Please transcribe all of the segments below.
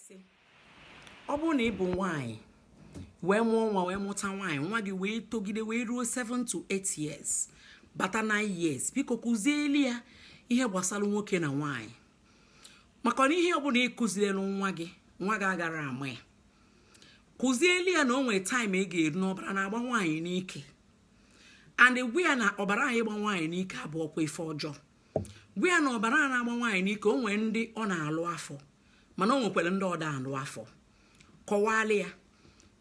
sị ọ bụrụ na ị bụ nwaanyị wee mụọ nwa wee mụta nwaanyị nwa gị wee togide wee ruo 7 to 8 years bata 9 years biko kụzieli ya ihe gbasara nwoke na nwaanyị maka na ihe ọbụla ị kụzielụ nwa gị nwa gị agara ama ya kụzieli ya na o nwere time ị ga-eru na ọbara na-agba nwaanyị n'ike and gwa ya na ọbara anyị gba nwaanyị n'ike abụrọkwa ife ọjọọ gwa ya na ọbara a na-agba nwaanyị n'ike o nwee ndị ọ na-alụ afọ mana o nwekwara ndị ọ da-alụ afọ kọwalụ ya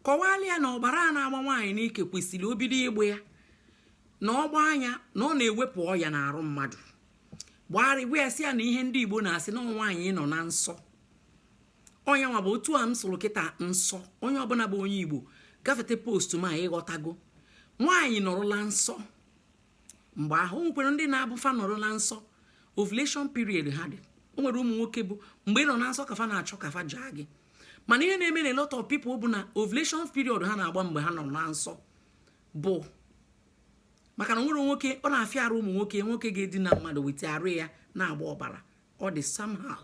kọwalụ ya na ọbara a na-agba nwaanyị n'ike kwesịrị obido ịgba ya na ọ gbaa nya na ọ na-ewepụ ọya n'arụ mmadụ gbagharị gwa ya sị ya na ihe ndị igbo na-asị na nwaanyị nọ na nsọ ọ nya nwa bụ otu a m sụrụ kịta nsọ onye ọbụla bụ onye igbo gafete post m a ị ghọtago nwaanyị nọrọ na nsọ mgbe ahụ o nwekwara ndị na-abụ fa nọrọ na nsọ ovulation period ha dị o nwere ụmụ nwoke bụ mgbe ị nọ na nsọ ka fa na-achọ ka fa jaa gị mana ihe na-eme na a lot of people bụ na ovulation period ha na-agba mgbe ha nọ na nsọ bụ maka na o nwere nwoke ọ na-afịa arụ ụmụ nwoke nwoke ga-edina mmadụ wete arụ ya na-agba ọbara ọ dị somehow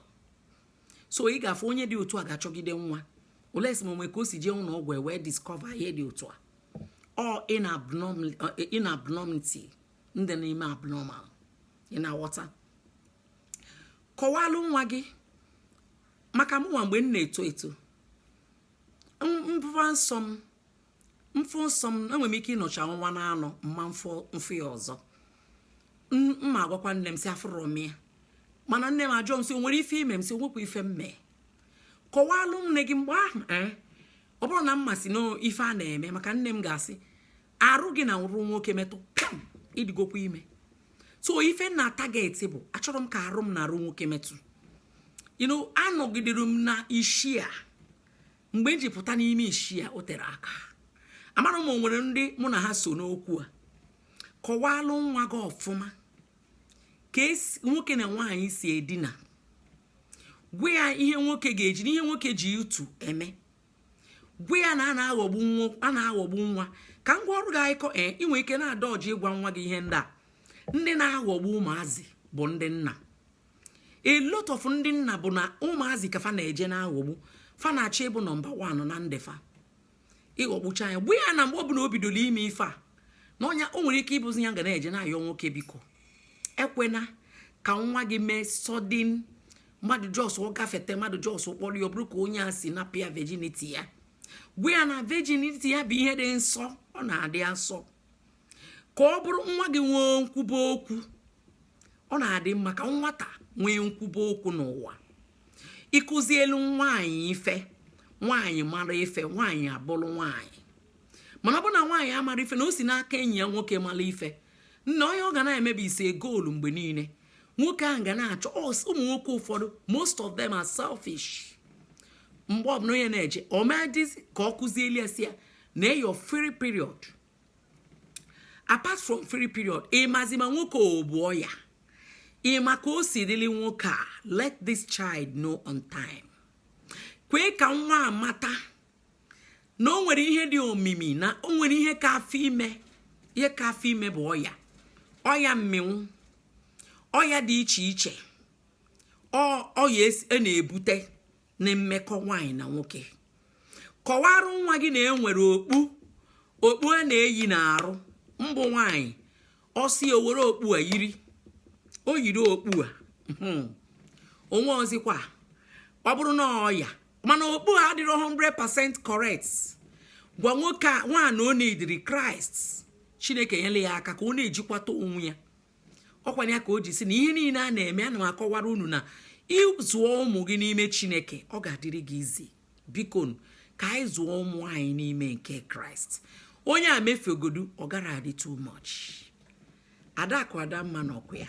so ị ga-afụ onye dị otu a ga-achọgide nwa unless ma o nwee ka o si jee ụlọ ọgwụ e wee discover ihe dị otu a or in abnormal in abnormality ndị n'ime abnormal ị na-aghọta kọwalụ nwa gị maka mụnwa mgbe m na-eto eto m ba nsọ m m fụ nsọ m enwere m ike ịnọcha ọnwa na anọ ma m fụ m fụ ya ọzọ m ma-agwakwa nne m sị afụrọ m ya mana nne m ajụọ m sị o nwere ife i me m sị o nwekwa ife m mee kọwalụ nne gị mgbe ahụ ee ọ bụrọ na m ma sị na ife a na-eme maka nne m ga-asị arụ gị na arụ nwoke metụ pịam ị dịgokwa ime so ife m na-target bụ achọrọ m ka arụ m na arụ nwoke metụ ino anọgidere m na ishi a mgbe m ji pụta n'ime ishi a o tere aka amara m o nwere ndị mụ na ha so n'okwu a kọwalụ nwa gị ọfụma ka nwoke na nwaanyị si edina gwa ya ihe nwoke ga-eji n'ihe nwoke ji utu eme gwa ya na a na-aghọgbu nwa a na-aghọgbu nwa ka m kọọrụ gị akụkọ ee eh, ị nwere ike na-adodge ịgwa nwa gị ihe ndị a ndị na-aghọgbu ụmụazị bụ ndị na a lot of ndị na-abụ na ụmụazị ka fa na-eje na-aghọgbu fa na-achọ ịbụ number one na ndụ fa ịghọgbucha ya gwa ya na mgbe ọbụla o bidoro ime ife a na ọ nya o nwere ike ịbụzi ya ga na-eje na-ayọ nwoke biko ekwena ka nwa gị mee sudden mmadụ just gafete mmadụ just kpọrọ ya ọ bụrụ ka onye a si napụ ya virginity ya gwa ya na virginity ya bụ ihe dị nsọ ọ na-adị asọ ka ọ bụrụ nwa gị nwee nkwuba okwu ọ na-adị mma ka nwata nwee nkwuba okwu n'ụwa ị kụzielu nwaanyị ife nwaanyị mara ife nwaanyị abụrụ nwaanyị mana ọ bụ na nwaanyị amara ife na o si n'aka enyi ya nwoke mara ife nna onye ọ ga na-emebi ise goolu mgbe niile nwoke ahụ ga na-achọ ụmụ nwoke ụfọdụ most of them are selfish mgbe ọbụla onye na-eje o medizi ka ọ kụzieli ya sị ya na your free period apart from free period ị mazi ma nwoke o bu ọya ị ma ka o si rili nwoke a let this child know on time kwee ka nwa amata na o nwere ihe dị omimi na o nwere ihe ka afọ ime ihe ka afọ ime bụ ọya ọya mmịnwụ ọya dị iche iche ọ ọya es- e na-ebute na mmekọ nwaanyị na nwoke kọwarụ nwa gị na e nwere okpu okpu a na-eyi n'arụ mbụ nwaanyị ọ sị o were okpu a yiri o yiri okpu a hmm. o nweọzịkwa ọ bụrụ na ọya mana okpu a adịrọ 100% correct gwa nwoke a nwaanyị ọ na-adịrị kraịst chineke nyere ya aka ka ọ na-ejikwata onwe ya ọ kwanụ ya ka o ji sị na ihe niile a na-eme ana m akọwara unu na ị zụọ ụmụ gị n'ime chineke ọ ga-adịrị gị easy biko ka anyị zụọ ụmụ anyị n'ime nke kraịst onye a mefegodu ọ gara adị too much adakụ adamma na ọkụ ya